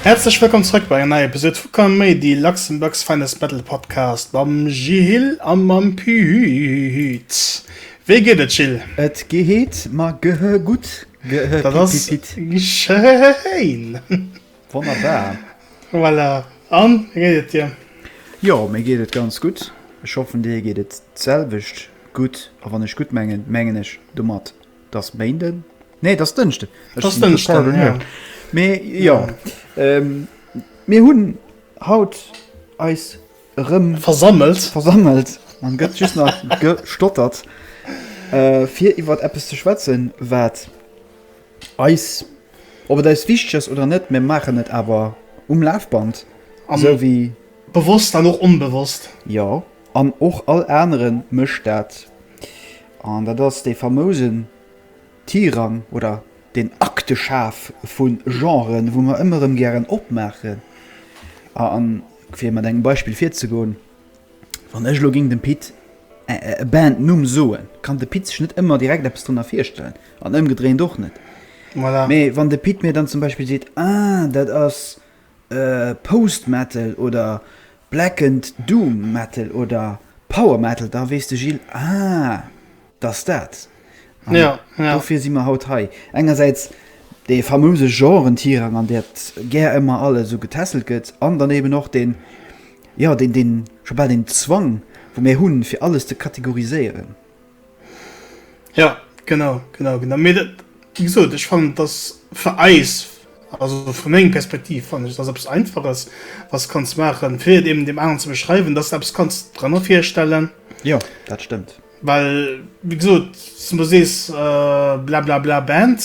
Häerzlech wëllkomm zrëck bei enger neier Episode vu Komm méi, de Luxembourg's Finest Battle Podcast mam Jil a mam Pühüt. Wéi geet et, Jil? Et ge heet mer ge he gutt. Ge he pit pit pit. Dat ass schéin! Wonnerbar. Voilà. An, wéi geet et dir? Jo, mir geet et ganz gutt. Ech hoffen, dir geet et d'selwecht gutt. A wann ech gutt mengen, mengen ech domat, dass Méinden, nee, dass Dënschden, ech sinn total vernurkt, mee jo, mir hunn haut eis erëm versammelt, an gëtt just nach gestottert, fir iwwert eppes ze schwätzen, wat. Eis, ob et eis wichteg ass oder net, mir maachen et awer um Lafband, esou wéi. Bewosst an och onbewosst. Jo, an och all anere mécht dat. An dat ass dee famousen Tirang oder deen Akteschaf vu Genren, wou mer ëmmer erëm gären opmaachen. A fir mat engem Beispill virzegoen. Wann ech elo géing dem Pit e Bandnumm soen, kann de Pit sech net ëmmer direkt eppes drënner virstellen, an ëmgedréint och net. Mee wann de Pit mir dann zum Beispill seet, ah dat ass Post-Metal oder Blackened Doom Metal oder Power Metal, da weess de Gilles, ah. Dass dat. An dofir si mer haut hei. Engersäits dee famouse Genre-Tirang, an där gär ëmmer alles esou getässelt gëtt, an dann eben och deen, jo, deen scho bal deen Zwang, wou mir hunn, fir alles ze kategoriséieren. Jo, genau, genau, genau. Mee dat, wéi gesot, ech fannen, et ass fir eis, also vu menger Perspektiv fannen ech, et ass eppes Einfaches, wat s de kanns maachen, fir et eben deem aneren ze beschreiwen, dass s de eppes kanns drënner virstellen. Jo, dat stëmmt. Well, wéi gesot, s du sees blablabla Band,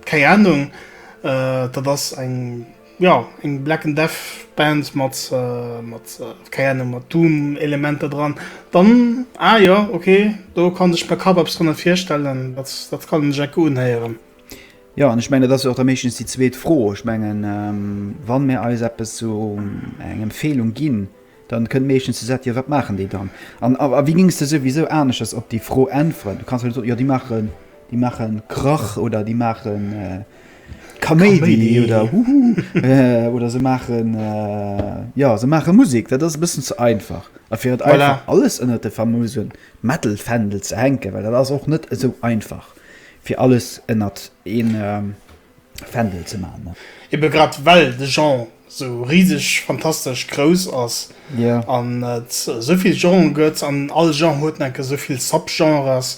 keng Ahnung, dat ass eng, jo, eng Black and Death Band mat, mat, keng Ahnung, mat Doom Elementer dran, dann, ah jo, ok, do kann ech mer kapp eppes drënner virstellen, dat, dat kann een sech enke unhéieren. Jo, an ech mengen, dat ass jo och da meeschtens déi zweet Fro. Ech mengen, wann mir eis eppes, esou eng Empfehlung ginn, Dann kënnt meeschtens déi Sätt, jo wat maachen déi dann? An a wéi gings de souwisou aneschters op déi Fro äntweren? Du kanns jo net soen, jo déi maachen, déi maachen Krach oder déi maachen Kaméidi oder Huhu oder se maachen, jo se maachen Musik. Dat ass e bëssen ze einfach. A fir et einfach alles ënnert de famose Metal-Fändel ze hänken, well dat ass och net esou einfach fir alles ënnert een, Fändel ze man. Eben grad well de Genre sou riseg fantastesch grouss ass an et sou vill Genren gëtt an all Genre huet enke sou vill Subgenres,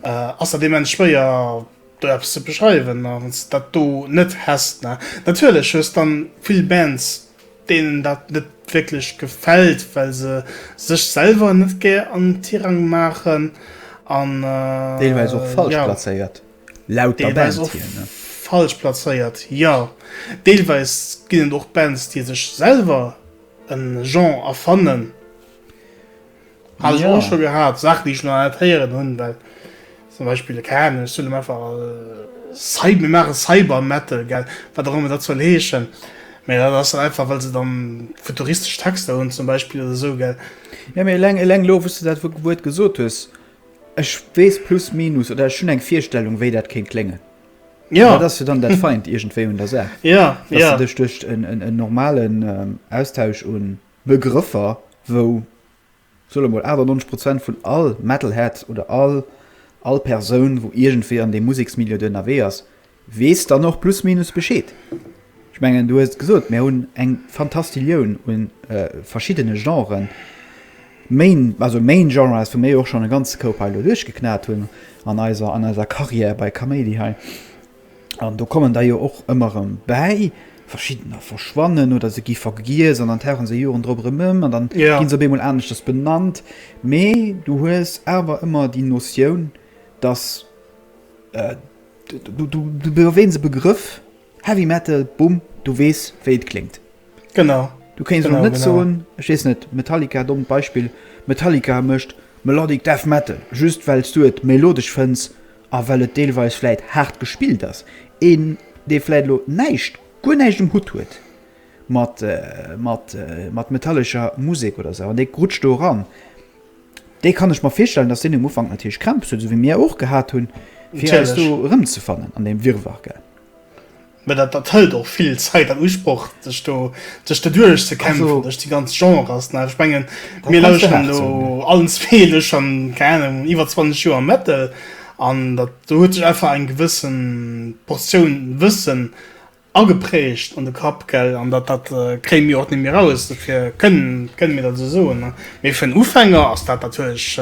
ass dat immens schwéier do eppes ze beschreiwen a wann s de dat do net häss. Natierlech hues dann vill Bands deenen dat net wierklech gefält well se sech selwer net gär an Tirang maachen an deelweis och falsch plazéiert. Laut der Band hier, ne? Falsch plazéiert, jo. Deelweis ginn et och Bands, déi sech selwer e Genre erfannen. Hat ech och scho gehat, Saachen, déi ech nach net héieren hunn. Well zum Beispill, keng Ahnung, ech soen einfach, mir maache Cybermetal, gell, wat och ëmmer dat soll heeschen. Mä dat ass dann einfach, well se dann futuristesch Texter hunn zum Beispill oder esou, gell. Jo, mee eleng elo, wou s du dat Wuert gesot hues, Ech weess plus minus oder ech hunn eng Virstellung, wéi dat kéint kléngen. Ja. Dat ass jo dann dat Feint iergendwéi un der Saach. Ja, dass ja. Dass du dech duerch en, en, en normalen ähm, Austausch un Begrëffer, wou, soe lo mol, 98 Prozent vun all Metalhead oder all, all Persoun, wou iergendwéi an deem Museksmilieu do ënnerwee ass, Weess dann och plus minus Bescheed. Ech mengen, du hues et gesot, mir hunn eng Fantastillioun u verschiddene Genren. Main, also Main Genre ass, wou mir jo och schonn e ganze Koup hei elo duerchgeknat hunn an eiser, an eiser Carrière bei Kaméidi hei. An do kommen der jo och ëmmer erëm bäi. Verschiddener verschwannen oder se gi vergiess an dann tauche se Joren drop erëm ëm an dann gi se op eemol aneschters benannt. Mee du hues awer ëmmer déi Notioun, dass, Du erwähns e Begrëff, Heavy Metal, bumm, du weess wéi et kléngt. Genau. Du kéins elo net soen, ech weess net, Metallica, dommt Beispill, Metallica mécht Melodic Death Metal, just well s du et melodesch fënns a well et deelweis vläit haart gespillt ass. Een, dee vläit elo näischt, guer näischt um Hutt huet mat, mat, mat metallescher Musek oder esou an dee rutscht do eran. Dee kann ech mer virstellen, dass deen um Ufank natierlech Krämpes huet, esou wéi mir och gehat hunn, fir eis do Natierlech. erëmzefannen an deem Wirrwarr, gell? Mä dat, dat hëlt och vill Zäit an Usproch, sech do, sech do Also, duerchzekämpfen duerch déi ganz Genres nach. Ech mengen, da mir kanns de lauscheren haart elo soen, jo. allen zwee elo schonn, keng Ahnung, iwwer 20 Joer am Metal an dat, do huet sech einfach eng gewëssen Portioun Wëssen Ageprägt an de Kapp, gell? An dat, dat kréie mir och net méi raus, dofir kënne mir dat esou soen. Mee fir en Ufänger ass dat natierlech,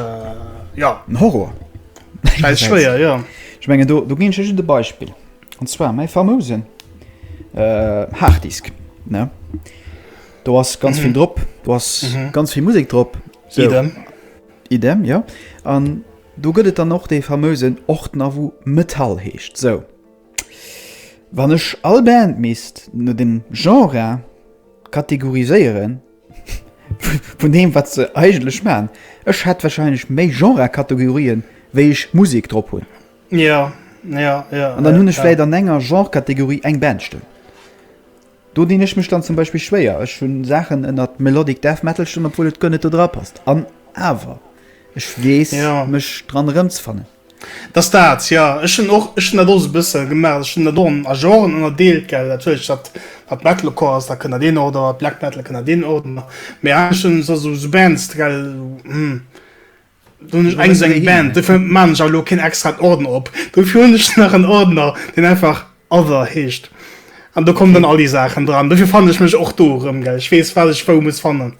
jo. En Horror. Schäiss schwéier, jo. Ech mengen, do, do ginn ech lech just e Beispill, an zwar mäi famousen Harddisk, ne? Do ass ganz vill drop, do ass ganz vill Musek drop. Idem. Idem, jo. An do gëtt et dann och dee famousen Ordner, wou Metall heescht, sou. Wann ech all Band misst no dem Genre kategoriséieren, vun deem wat se eigentlech maachen, ech hätt wahrscheinlech méi Genre-Kategorien wéi ech Musek drop hunn. An dann hunn ech vläit an enger Genre-Kategorie eng Band stoen. Do dinn ech mech dann zum Beispill schwéier. Ech hunn Saachen ënnert Melodic Death Metal stoen, obwuel et guer net do dra passt. An awer, ech weess mech dran erëmzefannen. Dass dat, jo, ech hunn och, ech hunn dat och esou e bësse gemaach, ech hunn dat och a Genren ënnerdeelt, gell, natierlech dat wat Metalcore ass, da kënnt dat deen Ordre, wat Black Metal kënnt dat deen Ordre, mee anescht hunn ech esou esou Bands, gell, hm, do hunn ech eng esou eng Band, dofir maachen ech awer elo keen extraen Ordner op, dofir hunn ech nach en Ordner, deen einfach Other heescht an do kommen dann all déi Saachen dran, dofir fannen ech mech och do erëm, gell, ech weess wat ech wou muss fannen.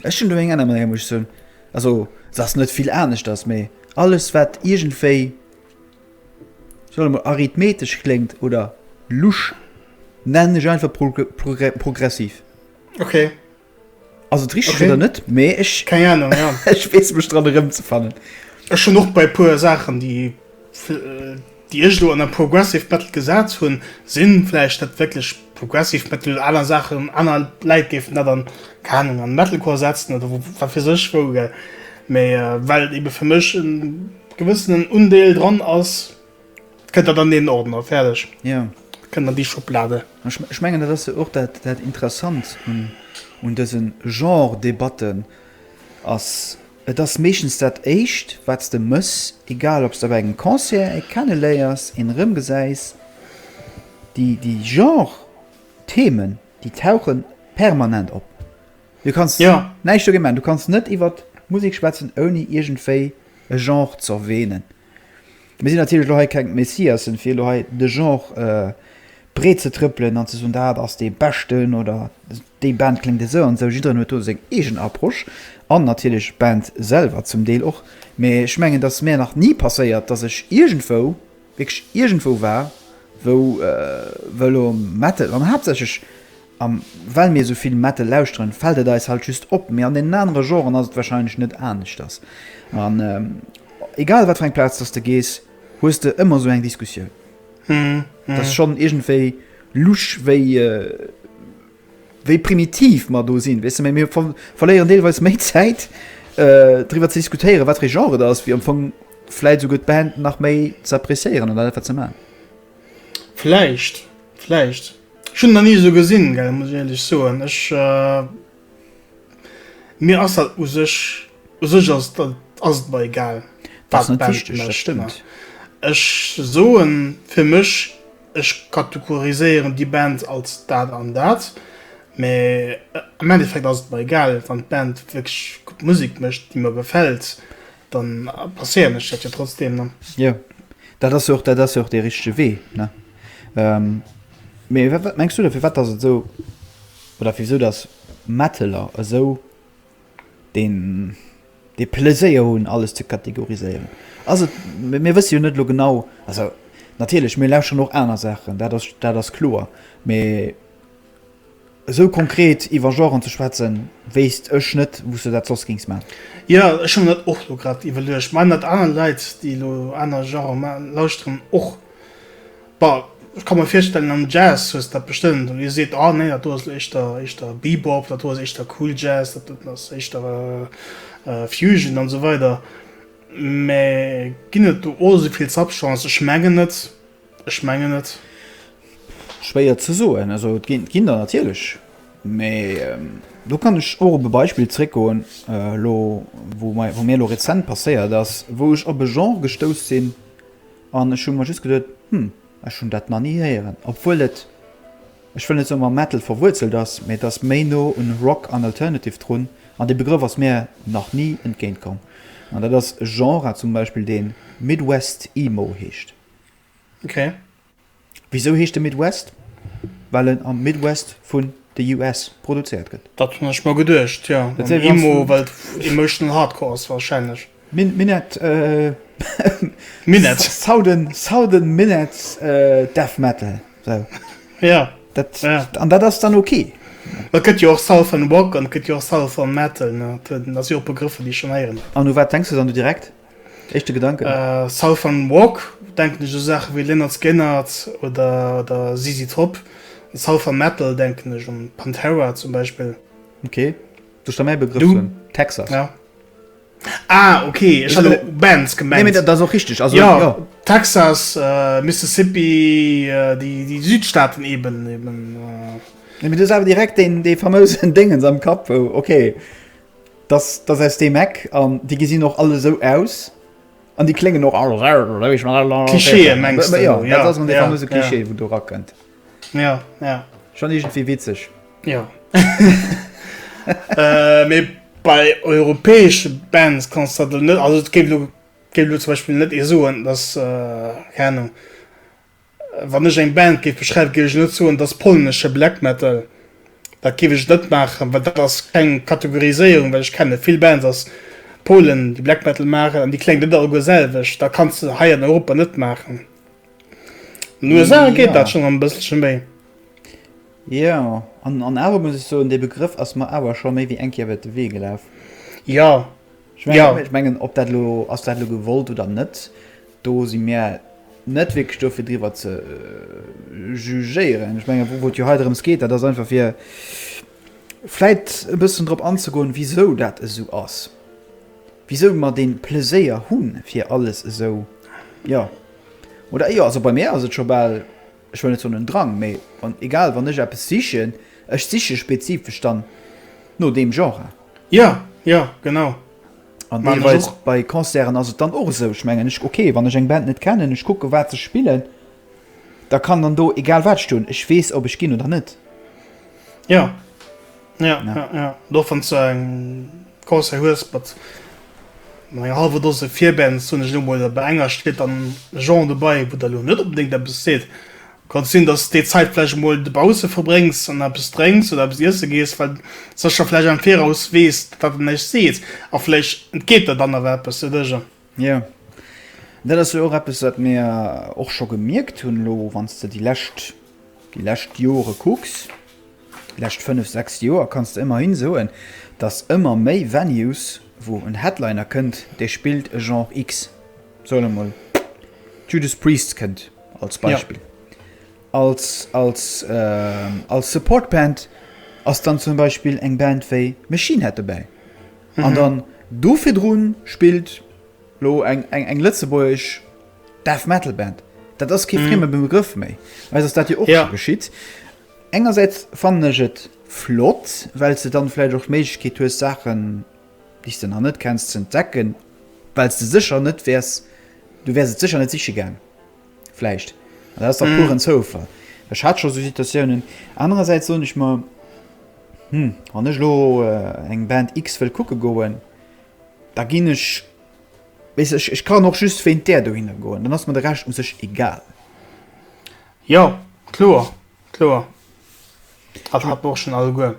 Ech hunn do eng aner Manéier, muss ech soen. Also, se ass net vill aneschters, mee alles, wat iergendwéi, soe mol, arithmetesch kléngt oder lusch, nennen ech einfach progressiv. Ok. Ass et richteg oder net? Mee ech. Keng Anung, ja. Ech weess mech dran erëmzefannen. Ech hunn och bei e puer Saachen, déi. déi ech elo an der Progressive Metal gesat hunn, sinn vläicht net wierklech Progressive Metal, aner Saachen, aner Läit géifen dat an, keine Ahnung, an Metalcore setzen oder wat weess ech wou, gell, mee well et ebe fir mech e gewëssenen Undeel dran ass, kënnt dat an deen Ordner, fäerdeg, kënnt an déi Schublade. Ech mengen dat ass jo och dat Interessant un dëse Genre-Debatten, ass Et ass meeschtens dat éischt wat s de mëss, egal ob s de bei engem Concert ee kenneléiers, een erëmgesäis. Déi déi Genre Themen, déi tauche permanent op. Du kanns ja. näischt dogéint maachen. Du kanns net iwwert Musek schwätzen ouni iergendwéi e Genre z'erwähnen. Mir sinn natierlech elo hei keng Messiassen, fir elo hei de Genre breetzetrëppelen an ze soen, dat ass dee Beschten oder déi Band kléngt esou an esou. Jiddereen huet do seng eegen Approche an natierlech d'Band selwer zum Deel och. Mee ech mengen, datt mir nach ni passéiert, datt ech iergendwou, wierklech iergendwou war, wou elo Metal an haaptsächlech, A well mir esou vill Metal lauschteren, fält et eis halt just op. Mee an deenen anere Genren ass et warscheinlech net aneschters. An egal wat fir eng Plaz dass de gees, hues de ëmmer esou eng Diskussioun. Dat ass schonn iergendwéi lusch, wéi, wéi primitiv mer do sinn, weess de. Mee mir verléieren deelweis méi Zäit driwwer ze diskutéieren, wat fir ee Genre et ass, wéi am Fong vläicht esouguer d'Band nach méi ze appreciéieren an dat, wat se maachen. Vläicht. Vläicht. Ech hun en nach nie esou gesinn gell, muss ech éierlech soen. Ech mir ass dat u sech u sech ass et ass et mer egal Dat ass wat net d'Band wichteg, dat mécht. stëmmt. Ech soen fir mech, ech kategoriséieren déi Band als dat an dat, mä am Endeffekt ass et mer egal, wann d'Band wierklech gutt Musek mécht, déi mer gefält, dann passéieren ech dat jo trotzdem. Ne? Ja, dat ass och, dat ass och de richtige Wee. Ne? Ähm, Mee wat, wat mengst du dafir wat ass so oder wieso das Metteler esou den de Pläséier hunn alles ze kategoriséieren? Also mir wësse jo net lo genau also natierlech mir lauscher noch aner Sachen, dat ass dat ass kloer. Mee Esou konkret iwwer Genren ze schwätzen, wéisst ech net wou's de dat soss géings man. Jo, ech hu mer dat och lo grad iwwerluecht, man dat aner Leit déi elo aner Genren man lauschteren och. Bon, ech ka mer virstellen am Jazz hues dat bestëmmt, wou ee seet, ah nee dat do ass elo éischter éischter Bebop, dat do ass éischter Cool Jazz, dat do ass éischter Fusion an esou weider. Mee ginn et do o esou vill Subgenres? Ech mengen net. Ech mengen net. Schwéier ze soen. Also et ginn der natierlech, mee do kann ech och op e Beispill zréckgoen elo, wou mei wou mir elo rezent passéiert ass, wou ech op e Genre gestouss sinn an ech hu mer just geduet, hm, ech hunn dat nach ni héieren, obwuel et, ech wëll net soen, mam Metal verwuerzelt ass, mee et ass méi no un Rock an Alternative drun an dee Begrëff ass mir nach ni entgéint komm. An dat ass e Genre zum Beispill, dee Midwest Emo heescht. Ok. Wisou heescht e Midwest? Well en am Midwest vun de US produzéiert gëtt. Dat hunn ech mer geduecht, jo. An Emo, well et emotional hardcore ass warscheinlech. Minett, Minett. Southern, southern minett death metal, sou. Jo. Dat, an dat ass dann ok. Et gëtt jo och southern rock an et gëtt jo och southern metal, ne? Dat si jo och Begrëffer, déi ech schonn héieren. An u wat denks de dann du direkt? Éischte Gedanken? Southern Walk denken ech u Saache wéi Lynyrd Skynyrd oder ZZ Top. Southern Metal denken ech un Pantera zum Beispill. Ok, du sta mäi Begrëff hunn Texas. Ah ok, ech hat Bands gemengt. Nee mee dat ass och richteg, also jo. Texas, Mississippi, déi Südstaaten eben. Nee mee du hues awer direkt dee fameusen Déngens am Kapp wou, ok. Dass dass aus deem Eck, an déi gesinn och all esou aus an déi kléngen och all esou. Klischeeë mengs de? Jo, dat ass elo dee famöse Klischee, wou do erakënnt. Jo, jo. Schonn iergendwéi witzeg. Jo. Mee bei europäesche Bands kanns de dat elo net, also et géif elo zum Beispill net ee soen, dass, keng Ahnung, Wann ech eng Band géif beschreiwen, géif ech net soen, et ass polnesche Black Metal. Dat géif ech net maachen, well dat ass keng Kategoriséierung, well ech kenne vill Bands aus Polen, déi Black Metal maachen, an déi kléngen net alleguer selwecht. Dat kanns de hei an Europa net maachen. An den USA geet dat schonn e bësselche méi. Jo, an awer muss ech soen, dee Begrëff ass mer awer scho méi wéi eng Kéier iwwer de Wee gelaf. Jo. Jo, ech mengen, ob dat elo ass dat elo gewollt oder net, do si mir net wierklech do fir driwwer ze jugéieren. Ech menge wou et jo hei drëms geet, dat ass einfach fir vläicht e bëssen drop anzegoen, wisou dat esou ass, wisou mer dee Pleséier hu fir alles esou, jo oder jo, also bei mär ass et scho bal. ech wëll net soen en Drang, mee wann, egal, wann ech eppes sichen, ech siche spezifesch dann no deem Genre. Jo, jo, genau. An deelweis bei Concerten ass et dann och esou, ech mengen, ech, ok, wann ech eng Band net kennen, ech kucken, wat se spillen, da kann dann do egal wat stoen, ech weess, ob ech ginn oder net. Jo. Ja, ja, ja. Do wann du eng Concert hues mat mat enger halwer Dose Virbands, hunn ech elo mol, bei enger steet dann e Genre dobei, wou der elo net onbedéngt eppes seet, kann et sinn, datt s déi Zäit vläicht emol dobausse verbréngs an eppes drénks oder eppes iesse gees, well s da scho vläicht am Viraus weess, wat en iech seet a vläicht entgeet der dann awer eppes, de Dësch. Jo, dat ass jo och eppes, wat mir och scho gemierkt hunn elo, wann s de déi lescht, déi lescht Jore kucks, déi lescht fënnef, sechs Joer, kanns de ëmmerhi soen, datt ëmmer méi Venues, wou en Headliner kënnt, dee spillt e Genre X, soe mer emol Judas Priest kënnt als Beispill, als, als, als Support-Band ass dann zum Beispill eng Band wéi Machine Head dobäi. An dann do virdrun spillt lo eng eng eng lëtzebuergesch Death Metal Band. Dat ass kee frieme Begrëff méi. Eis ass dat jo och Ja. scho geschitt. Engersäits fannen ech et flott, well s de dann vläicht och d'Méiglechkeet hues Saachen, déi s de nach net kenns, ze entdecken, well s de sécher net wäers, du wäers et sécher net siche gaang. Vläicht. An dat ass dach puren Zoufall. Ech hat scho sou Situatiounen. Anerersäits soen ech mer, hm, wann ech elo eng Band X wëll kucke goen, da ginn ech, weess ech, ech kann och just wéint där dohinner goen, dann ass mer de Rescht u sech egal. Jo, kloer, kloer. Dat hat mer och schonn alleguer.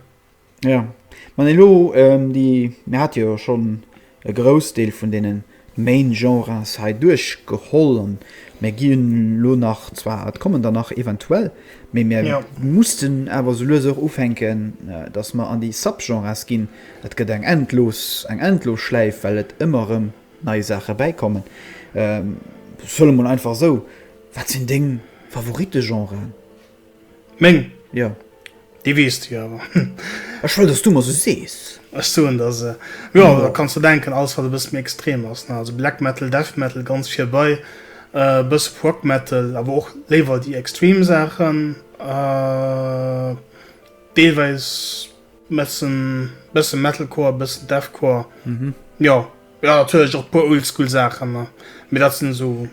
Ja, man elo ähm déi, mir hate jo schonn e Groussdeel vun deenen Main-Genres hei duerchgeholl an mir gi elo nach, zwar et kommen der nach eventuell, mee mir Ja. mussten awer sou lues och ufänken, datt mer an déi Sub-Genres ginn. Et gëtt eng endlos, eng endlos Schläif, well et ëmmer erëm nei Saache bäikommen. Ähm solle mol einfach esou, wat sinn deng Favoritte-Genren? Meng? Jo. Déi weess du jo awer. Ech wëll, dass du mer se sees. Ech soen der se. Jo, da kanns de denken, alles, wat e bësse méi extrem ass, ne? Also Black Metal, Death Metal, ganz virbai, e bësse Prog Metal, awer och léiwer déi extrem Saachen, deelweis bëssen, bësse Metalcore, bëssen Deathcore, jo. Jo natierlech och puer oldschool Saachen ne, mee dat sinn esou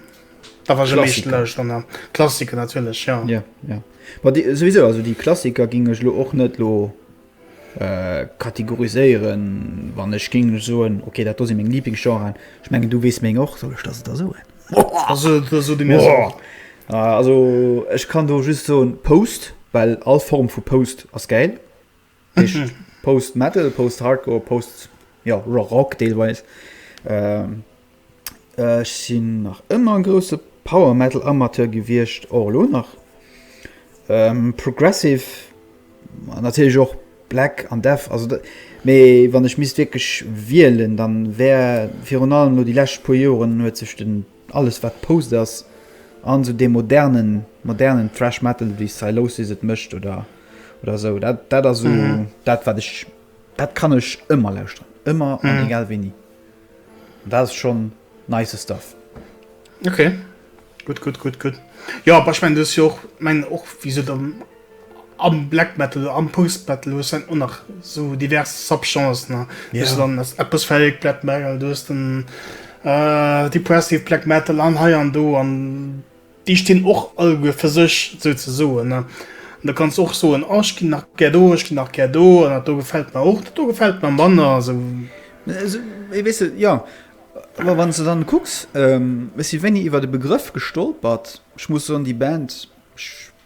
da war ech am meeschten lauschteren ne, Klassiker natierlech jo. Ja ja ma déi souwisou also déi Klassiker géing ech elo och net elo kategoriséieren wann ech géing elo soen ok dat do si meng Lieblingsgenren, ech mengen du weess meng och, soll ech der se der soen? Also da so de mir se och. Also ech kann do just soen Post, well all Form vu Post ass gäil. Heescht Post Metal, Post Hardcore, Post jo Rock deelweis. Ech sinn nach ëmmer e grousse Power Metal Amateur gewiescht, och elo nach. Progressive an natierlech och Black an Death, also dat, mee wann ech misst wierklech wielen, dann wär virun allem elo déi lescht puer Joren huet sech den Alles wat post ass an sou dee modernen modernen thrash metal wéi Sylosis et mécht oder oder sou dat dat ass sou dat wat ech dat kann ech ëmmer lauschteren ëmmer an egal wéini an dat ass schonn nice stuff. Okay gutt gutt gutt gutt jo, awer ech mengen du hues jo och mengen och wéi se dann. Am Black Metal, am Post Metal hues en och nach sou divers Subgenres nach. Yeah. Hues dann as Atmospheric Black Metal, du hues den äh, Depressive Black Metal an hei an do an déi stinn och alleguer fir sech sou ze soen ne. An da kanns och soen, oh ech ginn nach gär do, ech ginn nach gär do an dat do gefält mer och, dat do gefält mer manner sou. Äh, weess de, jo. Awer wann s de dann kucks, ähm, ech si wéini iwwert e Begrëff gestolpert, ech muss soen déi Band, ech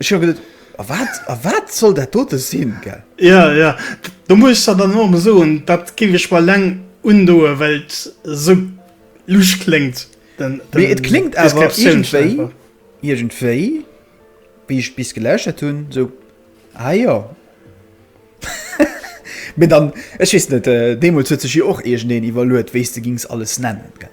Ech hu geduet, A wat, a wat soll dat dote sinn, gell? Jo, jo. Do muss ech der dann och emol soen, dat géif ech mer eleng undoen, well et esou lusch kléngt, den, den, Mee et kléngt awer d'Deskriptioun schonn iergendwéi, einfach. iergendwéi, wéi ech bis gelauschtert hunn, esou, Ah jo. Mee dann, ech weess net, deemools huet sech jo och iergendeen iwwerluet, wéi s de gings alles nennen, gell?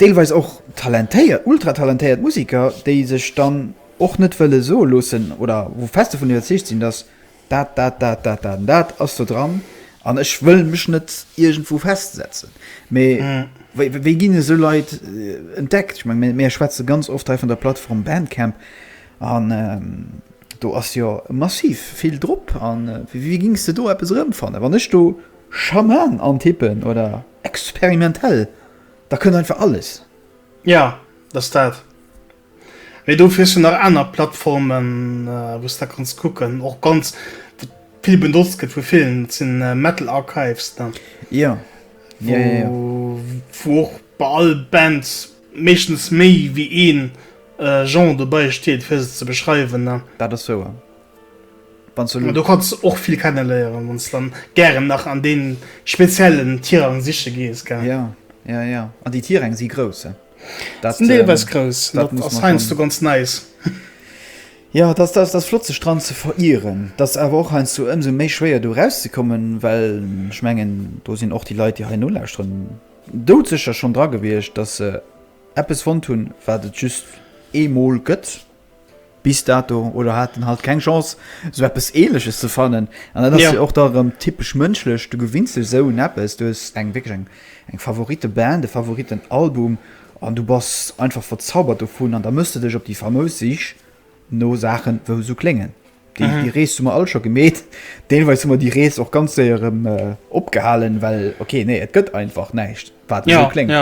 Deelweis och talentéiert, ultra talentéiert Musiker, déi sech dann och net wëlle soe loossen oder wou fest dovun iwwerzeegt sinn, datt dat, dat, dat, dat, dat an dat ass do dran an ech wëll mech net iergendwou festsetzen. Mee wéi ginn esou Leit entdeckt? Ech menge mir schwätze ganz oft hei vun der Plattform Bandcamp an do ass jo massiv vill drop. A wéi gings de do eppes erëmfannen, wann ech do Schaman an Tippen oder experimentell, da kënnt einfach alles. Jo, dat ass dat. Mee dofir ass jo nach aner Plattformen, wou s de kanns kucken. Och ganz vill benotzt gëtt vu villen, dat sinn d'Metal Archives, ne? Jo, jo, jo, jo. Wou och bei all Band meeschtens méi wéi ee Genre dobäi steet, fir se ze beschreiwen, ne? Dat ass wouer. Wann du kanns och vill kennen léieren wann du dann gären nach an deen speziellen Tirang siche gees gell. Ja ja ja an déi Tirang si grouss he. Dat si deelweis ähm, grouss, dat ass heiansdo ganz neis. Ja dat ass dat flott sech dran ze verieren. Dat ass awer och heiansdo ëmsou méi schwéier do erauszekommen, well ech mengen do sinn och déi Leit déi hei nolauschteren doudsécher schonn dra gewiescht, datt se eppes fonnt hunn wat et just eemol gëtt. Bis dato, oder haten halt keng Chance, sou eppes Ähnleches ze fannen. An dat ass jo och da erëm typesch mënschlech, du gewinns dech esou un eppes, du hues eng, wierklech eng, eng Favoriteband, e Favoritenalbum an du bass einfach verzaubert dovun an da mëss de dech op déi famous Sich no Saachen, wou esou kléngen. Déi, déi Rees hu mer all scho gemeet. Deelweis hu mer déi Rees och ganz séier erëm opgehalen, well, ok, nee, et gëtt einfach näischt, wat esou kléngt.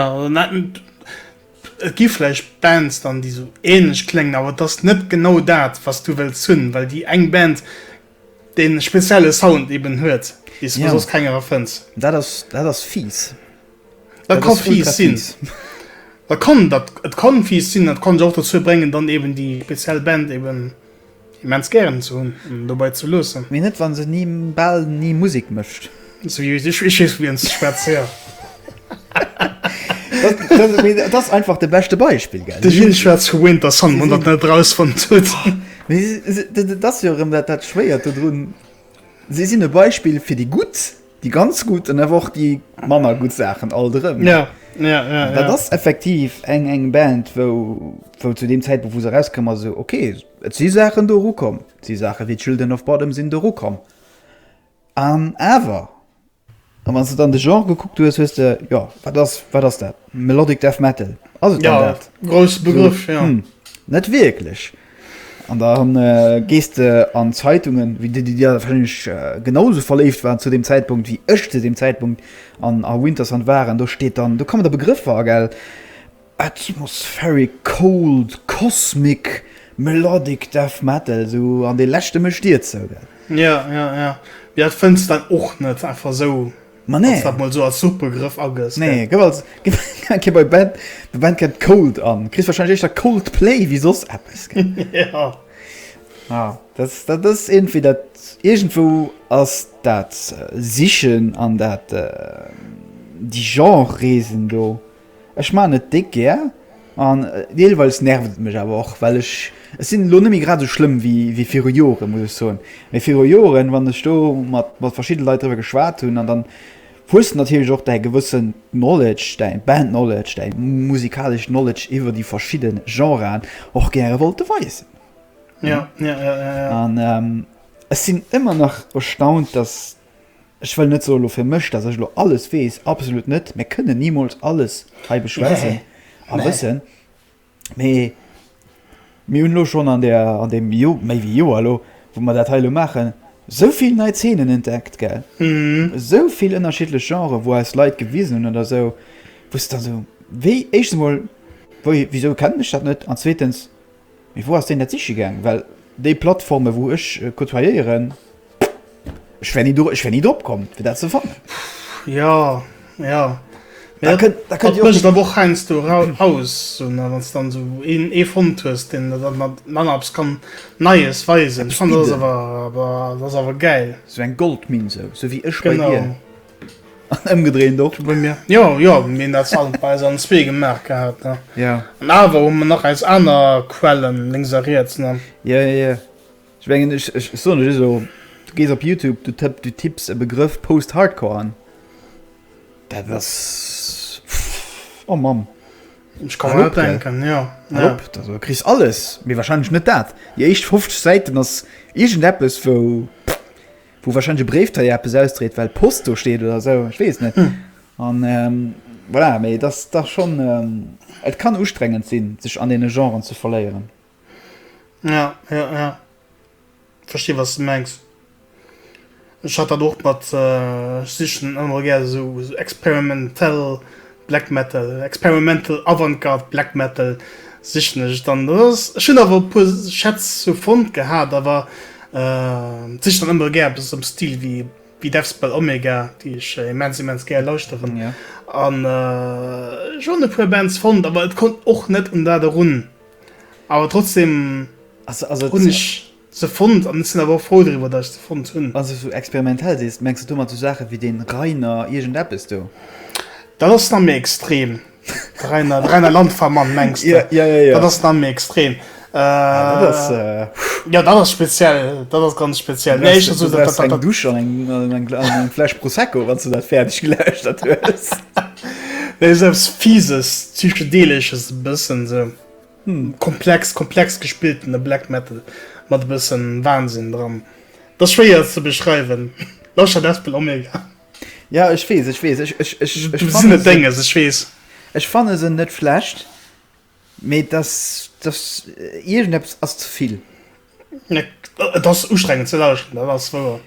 Et gi vläicht Bands dann, déi esou ähnlech kléngen, awer et ass net genau dat, wat s du wëlls hunn, well déi eng Band dee spezielle Sound eeben huet, dee s du soss kengerer fënns. Dat ass, dat ass fies. Dat ka fies sinn. Dat kann, dat, et kann fies sinn. Dat kann sech och dozou bréngen, dann eeben déi speziell Band eeben. Immens gären ze hunn an dobei ze loossen. Mee net wann se ni, bal ni Musik mécht. Sou wéi sech wéi Schiss wien ze schwätzer. Dat ass einfach de beschte Beispill, gell? De Jil schwätzt vu Winter Sun, wann der net erausfonnt hutt. Mee dat ass jo erëm dat Schwéiert dodrun, si sinn e Beispill fir déi Gutt. Déi ganz gutt an awer och déi manner gutt Saachen alt erëm. Ja, ja, ja. Dat ass ja. effektiv eng eng Band, wou, wou zu deem Zäitpunkt, wou se rauskomm ass, esou okay, et si Saachen do erukomm, et si Saache wéi Children of Bodom sinn do erukomm. An awer, an wann s de dann de Genre gekuckt hues, hues de, jo, wat ass, wat ass dat? Melodic Death Metal? Ass et dann dat? Ja, grousse Begriff, so, ja. Hm, net wierklech. An da gees de an d'Zeitungen, wéi de déi da wahrscheinlech genau esou verléift waren zu deem Zäitpunkt, wéi ech zu deem Zäitpunkt an a Winterson war. An do steet dann, do kommen da Begrëffer agel, atmospheric, cold, cosmic, melodic death metal, esou an dee leschte mécht Dir zou, gell? Jo, jo, jo. Mee dat fënns de dann och net einfach esou Ma nee. Wann s dat mol esou als Suchbegrëff agëss. Nee, gëff als Gëff kee bei Band, bei Bandcamp Cold an. Kriss wahrscheinlech éischter Coldplay wéi soss eppes. Ja. Ja, dat, dat ass iergendwéi dat, iergendwou ass dat Sichen an dat, déi Genre-Reesen do. Ech maachen et déck gär an deelweis nervt et mech awer och, well ech ech sinn elo net méi grad esou schlëmm wéi viru Joren, muss ech soen. Mee viru Joren, wann ech do mat mat verschidde Leit driwwer geschwat hunn an dann hues de natierlech och däi gewëssen Knowledge, däi Band Knowledge, däi musikaleschen Knowledge iwwer déi verschidde Genren och gäre wollte weisen. An ech sinn ëmmer nach erstaunt, dass Ech wëll net soe lo fir mech, dass ech lo alles weess, absolut net, mir kënnen nimools alles hei beschwätzen a wëssen, mee mir hunn elo schonn an där, an deem méi wéi Joer elo, wou mer dat hei elo maachen, esou vill nei Zeenen entdeckt, gell, esou vill ënnerschiddlech Genrë wou eis Leit gewisen hunn oder esou, wou s de dann esou, wéi, éischtens emol, wéi, wisou kennen ech dat net an zweetens, Mee wou ass deen dat siche gaang? Well déi Plattforme wou ech côtoyéieren, ech wär ni do, ech wär ni drop komm fir dat ze fannen. Jo, jo, mee dat mécht awer och heiansdo aus, esou nach, wann s de dann esou ee fonnt hues, deen der dann mat manner eppes kann Neies weisen. Ech fannen, dat ass awer, dat ass awer gäil. Esou eng Goldminn, esou wéi ech bei dir. Genau. An ëmgedréint och. Wou mir, jo, jo, mir hunn dat Salm bei eis an zwee gemaach gehat, ne? Jo. An awer hu mer nach eis aner Quellen lénks a riets, ne? Jo, jo, jo. Ech mengen, ech, ech soen lech elo, du gees op Youtube, du tëpp, du tipps e Begrëff Post-Hardcore an, dat ass, pff, oh Mamm! Ech ka mer dat denken, jo. Hal op, da so, kriss alles, mee warscheinlech net dat. Déi éischt 50 Säiten ass iergendeppes, wou, pff. wou wahrscheinlich e Bréifdréier eppes ausdréit, well Post do steet oder esou, ech weess et net. An voilà, mee dat ass dach schonn, et kann ustrengend sinn, sech an deene Genren ze verléieren. Ja, ja, ja. Ech verstehe, was du mengs. Ech hat dat och mat, ech sichen ëmmer gär esou experimentell Black Metal, Experimental Avantgarde Black Metal sichen ech dann. Dat ass, ech hunn awer e puer Schätz sou fonnt gehat, awer sichen dann ëmmer gär eppes am Stil wéi wéi Deathspell Omega, déi ech immens immens gär lauschteren. An ech hunn e puer Bands fonnt, awer et konnt och net un dat erun. Awer trotzdem hunn ech. se fonnt an ech sinn awer och frou driwwer dat ech se fonnt hunn. Wann s du sou experimentell sees, mengs de domat sou Saache wéi dee Reiner iergend eppes do? Dat ass nach méi extrem. De Reiner, de Reiner Landvermann mengs de? Jo, jo, jo. Dat ass nach méi extrem. Ah, dat ass, puh. Jo, dat ass speziell, dat ass ganz speziell. Du bräichs, du bräichs eng Dusch an eng, an eng, an eng Fläsch Prosecco, wann s du dat fäerdeg gelauschtert hues. Esou eppes Fises, Psychedeelesches e bëssen sou. Komplex, komplex gespilltene Black Metal mat e bëssen Wahnsinn dran. Et ass schwéier ze beschreiwen, lauschtert Deathspell Omega. Jo ech wees, ech wees, ech fanne se dénges, ech wees. Ech fanne se net schlecht, mee dass dass iergendeppes ass zevill. Et ass ustrengend ze lauschteren, dat ass wouer.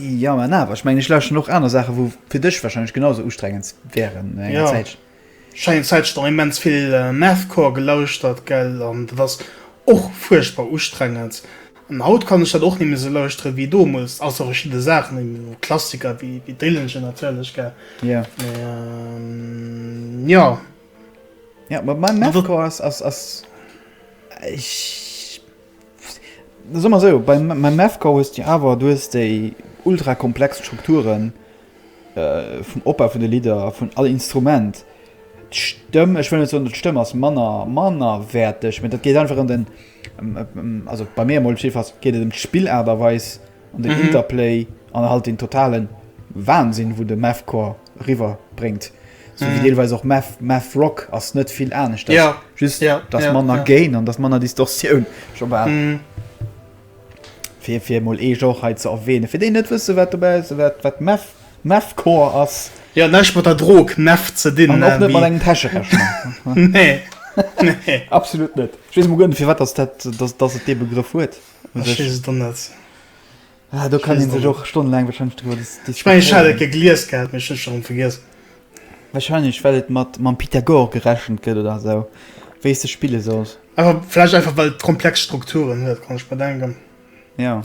Jo, mä awer, ech mengen, ech lauschteren och aner Saachen, wou fir dech wahrscheinlech genau esou ustrengend wäeren no enger Zäit. Jo, ech eng Zäitchen dann immens vill Mathcore gelauschtert, gell, an dat ass och fuerchtbar ustrengend. An haut kann ech dat och net méi esou lauschteren wéi domols, ausser verschidde Saachen, ewéi Klassiker wéi Dillinger natierlech, gell. Jo. Mä jo. Ja, ma mein Mathcours ass, ass, ass, ech, soe mer esou, bei meinem Mathcours hues de awer, du hues déi ultra komplex Strukturen vum Opbau vun de Lidder, vun all Instrument, d'Stëmm, ech wëll net soen, datt d'Stëmm ass manner, mannerwäerteg, mä dat geet einfach ëm den, also bei mir emol op jiddefalls, geet et ëm d'Spillaart a weis, ëm den Interplay an halt den totalen Wahnsinn, wou de Mathcours eriwwer bréngt. Sou wéi deelweis och Math, Math Rock ass net vill aneschters. Ja. Just, et ass ja, manner ja. Gain an et ass manner Distortioun. Scho bal. Mm. Fir, fir mol ee Genre hei ze erwähnen. Fir déi net wësse wat dobäi ass, wat, wat Math, Mathcore ass. Ja, näischt mat der Drog Meth ze dinn. An och net mat engem Täschrechner. nee. nee. Absolut net. Ech weess mol guer net, fir wat dass dat, dass, dass et dee Begrëff huet. Ech weess et och net. Ah, do kann een sech och stonnelaang wahrscheinlech driwwer dis, dis. Ech mengen, ech hat et gegelies gehat, mee ech hunn et scho rëm vergiess. Wahrscheinlech, well et mat, mam Pythagore gerechent gëtt oder esou, wéi s de spille solls. Awer vläicht einfach, well et komplex Strukturen huet, kann ech mer denken. Jo.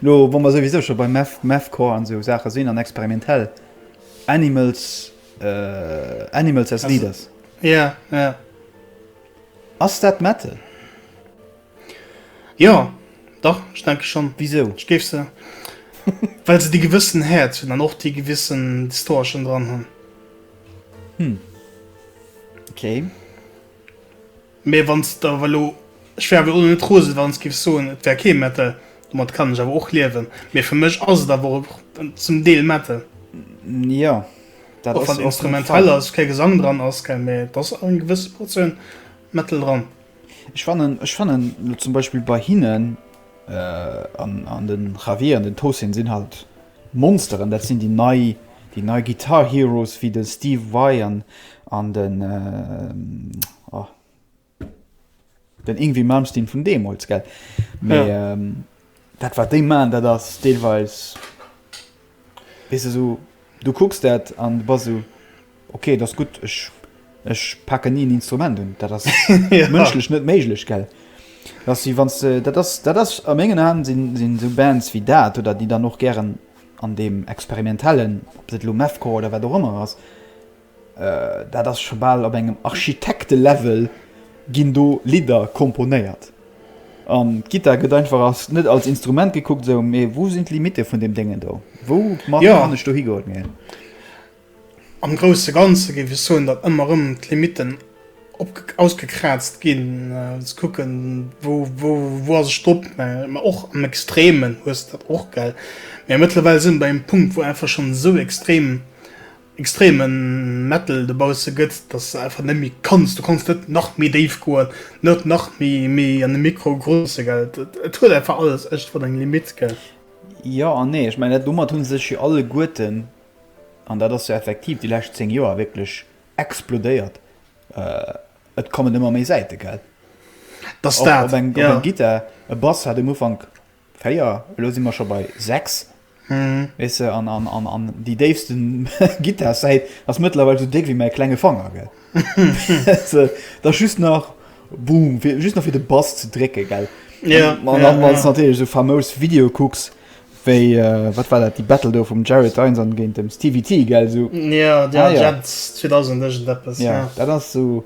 Lo, wa mer souwisou scho bei Math, Mathcore an esou Saache sinn, an experimentell, Animals, Animals as Leaders. Ja, ja. Ass dat Metal? Jo, dach, ech denke schonn. Wisou? Ech géif se, well se dee gewëssen Häerz hunn an och dee gewissen Distoerchen dran hunn. Hm. Okay. Mee wann s de awer elo, ech wär awer elo net rose wann s giffs soen, et wär kee Metal, domat kann ech awer och liewen. Mee fir mech ass et awer och zum Deel Metal. Jo, dat ass. Och wann et instrumentell ass, kee Gesang dran ass, keng, mee et ass eng gewësse Portioun Metal dran. Ech fannen, ech fannen elo zum Beispill bei hinnen an den Javier an den Tosin sinn halt Monsteren, dat sinn déi nei, déi nei Guitar Heroes wéi de Steve Vai an an den oh den Yngwie Malmsteen vun deemools gell mee. Dat wat déi man dat ass deelweis weess de esou du kucks dat an bass esou ok et ass gutt ech ech paken ni en Instrument un. Dat ass mënschlech net méiglech gell dass si wann s de dat ass dat ass a mengen Aen sinn sinn esou Bands wéi dat oder déi dann och gären an deem experimentellen ob dat elo Mathcore oder wat och ëmmer ass Dat ass scho bal op engem Architekte-Level, ginn do Lidder komponéiert an d'Gittar gëtt einfach als, net als Instrument gekuckt, esou mee wou sinn d'Limitte vun deem Déngen do, wou mat kann ech dohi goen? Mee. Am grousse Ganze géif ech soen, datt ëmmer erëm d'Limitten op, ausgekraazt ginn, ze kucken, wou, wou, wou ass ech drop? Mä och am Extremen hues de dat och, gell? Mä mëttlerweil sinn mer bei engem Punkt, wou einfach schonn esou extrem extremen Metal dobausse gëtt, dass de einfach net méi kanns, du kanns net nach méi déif goen, net nach méi méi an de Mikro grosse, gell. Et huet einfach alles ëschtwat eng Limitt, gell. Jo an nee, ech mengen dat domat hu sech jo alleguerten, an dat ass jo effektiv déi lescht 10 Joer wierklech explodéiert, et kommen ëmmer méi Säite, gell. Dass dat, jo. Op eng Gittar, e Bass hat um Ufank. 4, elo si mer scho bei 6, weess de, an, an, an, an déi déifste Gittarsäit ass mëttlerweil esou déck wéi mäi klenge Fanger, gell? Ze, da just nach Boom, fir, just nach fir de Bass ze drécke, gell? Ja, An, an ja, dann, wann ja. s natierlech esou famous Video kucks, wéi, äh, wat war dat, déi Battle do vum Jared Dines an géint dem Stevie T, gell, esou. Ja, ja, Ah, ja. Jent 2000 iergendeppes, Ja, ja. dat ass esou.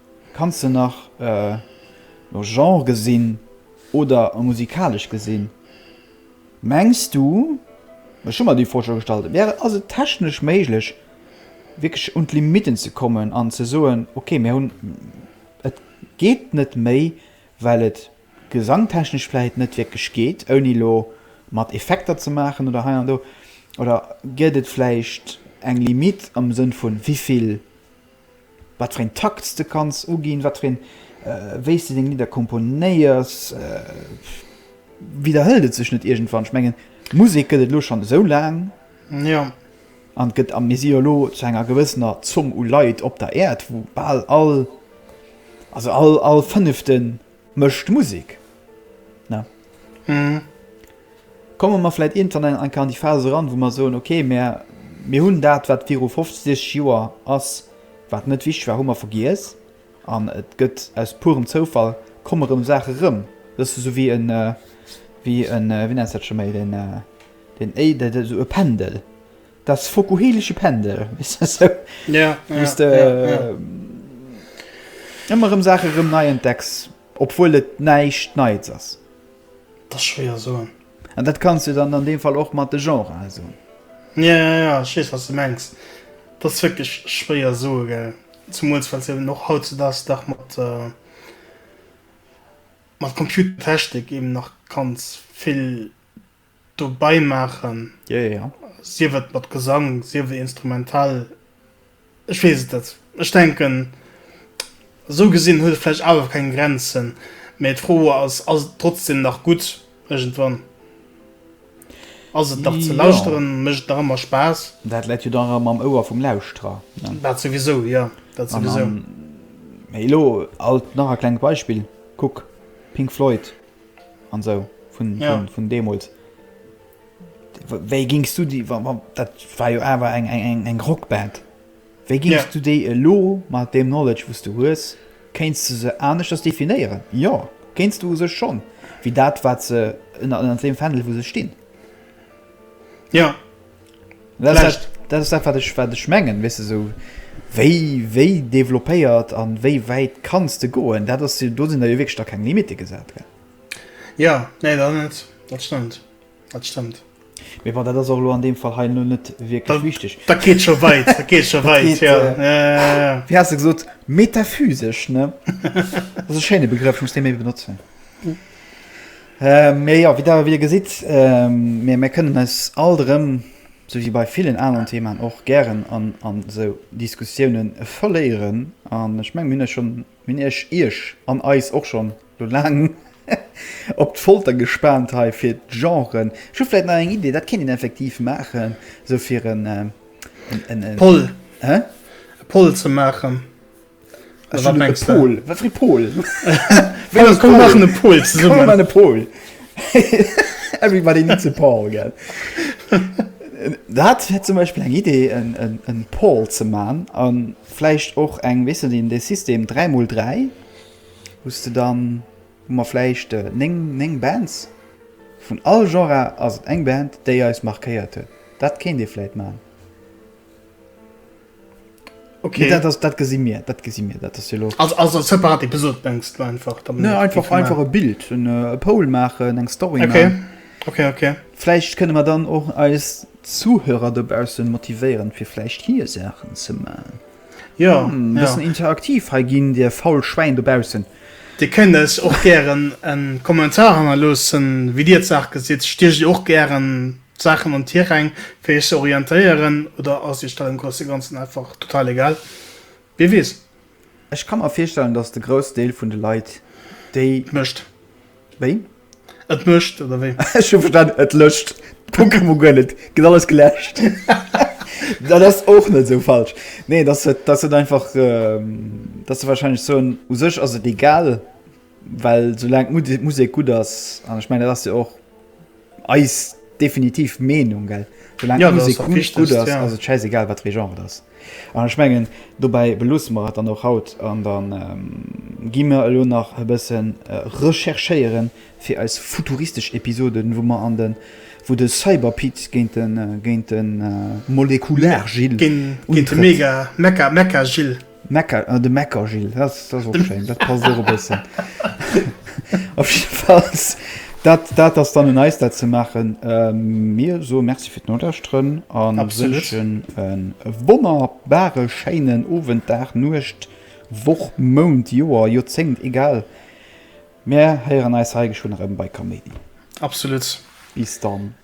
Kann se nach no Genre gesinn oder a musikalesch gesinn? Mengs du, ech hu mer déi Fro scho gestallt, wär et, ass et technesch méiglech wierklech un d'Limitten ze kommen an ze soen, okay mir hunn, et geet net méi, well et gesangtechnesch vläicht net wierklech geet, ouni elo mat Effekter ze maachen oder hei an do? Oder gëtt et vläicht eng Limite am Sënn vu wéivill? Wat fir een Takt s de kanns uginn, wat fir een, wéi s de deng Lidder komponéiers, widderhëlt et sech net iergendwann? Ech mengen, Musek gëtt et elo schonn esou laang. Jo. An et gëtt, a mir si jo elo zu enger gewëssener Zomm u Leit op der Äerd, wou bal all, also all, all Fënneften Mëscht Musik, ne? Hm. Komme mer vläit iergendwann an an déi Phas eran, wou mer soen, ok, mer mir hunn dat, wat viru 50, 60 Joer ass, wat net wichteg war, hu mer vergiess an et gëtt aus purem Zoufall komme rëm Saache erëm. Wëss de, esou wéi en, wéi en, wéi nennt sech dat scho méi, den, den, éi, dat esou e Pendel, Datt fokuhilesche Pendel, weess de, sou, wou s de ëmmer erëm Saache erëm nei entdecks, obwuel et näischt Neies ass. Et ass schwéier soen. An dat kanns de dann an deem Fall och mat de Genrë soen. Jo, jo, jo, ech weess, wat s de mengs. Et ass wierklech schwéier soe, gell. Zemools, well s eben och hautzedaags dach mat, mat Computertechnik eben nach kanns vill dobei maachen, yeah, yeah. sief et mat Gesang, sief et instrumental, ech weess et net. Ech denken, esou gesinn huet et vläicht awer keng Grenzen, mä d'Fro ass, ass et trotzdem nach gutt iergendwann? Ass et nach ze lauschteren? Yeah. Mécht et nach ëmmer Spaass? Dat läit jo dann erëm am Ouer vum Lauschterer, ne? Dat souwisou, jo, dat souwisou. An, an, elo alt nach e klengt Beispill, kuck, Pink Floyd. An esou vun deemools. Wéi gings du déi, dat war jo awer eng Rockband, wéi gings du déi elo mat deem Knowledge wou s du hues, kéints de se aneschters definéieren? Jo, kéints du u sech schonn, wéi dat wat se ënner deem Fändel wou se stinn. Jo. Vläicht. Dat ass dat, wat ech, wat ech mengen, weess de, esou wéi, wéi developpéiert a wéi wäit kanns de goen? Dat ass jo, do sinn der jo wierklech da keng Limitte gesat, gell? Jo, nee, dat net, dat stëmmt, dat stëmmt. Mee bon, dat ass och elo an deem Fall hei elo net wierklech wichteg. Dat geet scho wäit, dat geet scho wäit, jo. Ja, ja, ja. Wéi has de gesot, metaphysesch, ne? Dat ass e schéine Begrëff, ech muss dee méi benotzen. Mee jo, wéi Der wieder gesitt, mir kënnen eis alt erëm, sou wéi bei villen aneren Theemaen och, gären a sou Diskussioune verléieren. An ech mengen, mir hunn Iech, Iech an eis och schonn elo laang op d'Folter gespaant hei fir d'Genren. Ech hu vläicht nach eng Idee, dat kéint een effektiv maachen, sou fir en, en, en, en. Poll. Hä? E Poll ze maachen. Ech hun e Pol. Wat fir e Pol? Komm maachen e Pol zesummen. Komm maachen e Pol. Everybody needs a Paul, gell? Dat wär zum Beispill eng Idee, e Pol ze maachen. A vläicht och eng, weess net, een dee System 3 mol 3, wou s de dann, hu mer vläicht néng, néng Bands. Vun all Genre ass et eng Band, déi eis markéiert huet. Dat kéint ee vläicht maachen. Okay. Nee, dat, das, dat gesi mir dat gesi mir dat jo lo also, also separat Episode denkst du einfach ne, einfach einfach e Bild en äh, e Pol machen eng Story okay. Machen. Okay, okay. Fläicht kënne mer dann och eis Zuhörer dobause motivéieren, fir flecht hier Sachen ze ma. Ja hm, ja. interaktiv ha ginn Dir faul Schweein dobausen. Di kënnes och gieren en Kommentar hanner lossen, wie Dir d'Saach gesitt, Stich och gieren Saachen an Tiräng fir iech ze orientéieren oder ass iech dat am grousse ganzen einfach total egal? Wie weess? Ech ka mer virstellen dass de grouss Deel vun de Leit déi. Et mécht. Wéi? Et mécht oder wéi? Ech hu verstanen et lëscht d'Pokémon Go net, gëtt alles geläscht. Dat ass och net esou falsch. Nee dass et dass et einfach dass se wahrscheinlech soen u sech ass et egal Well soulaang d'Musek gutt ass, an ech mengen dat ass jo och eis definitiv Meenung, gell, soulaang d'Musek gutt gutt ass, ass et schäisegal wat fir ee Genre et ass. An ech mengen dobäi beloosse mer et dann och haut an da gi mer elo nach e bësse recherchéiere fir eis futuristesch Episoden, wou mer an de wou de Cyberpit géint de géint de Molekular-Jill untrëtt. Géint de Mega-Mecha-Mecha-Jill. De Meckergil, dat ass och schéin, dat passt och e bëssen. Op jiddefalls, dat ass dann un eis, dat ze maachen. Mir soe Merci fir d'Nolauschteren a wënschen e wonnerbare schéinen Owend, Dag, Nuecht, Woch, Mount, Joer, Joerzéngt, egal. Mir héieren eis hei geschwënn erëm bei Kameen. Absolut. Bis dann.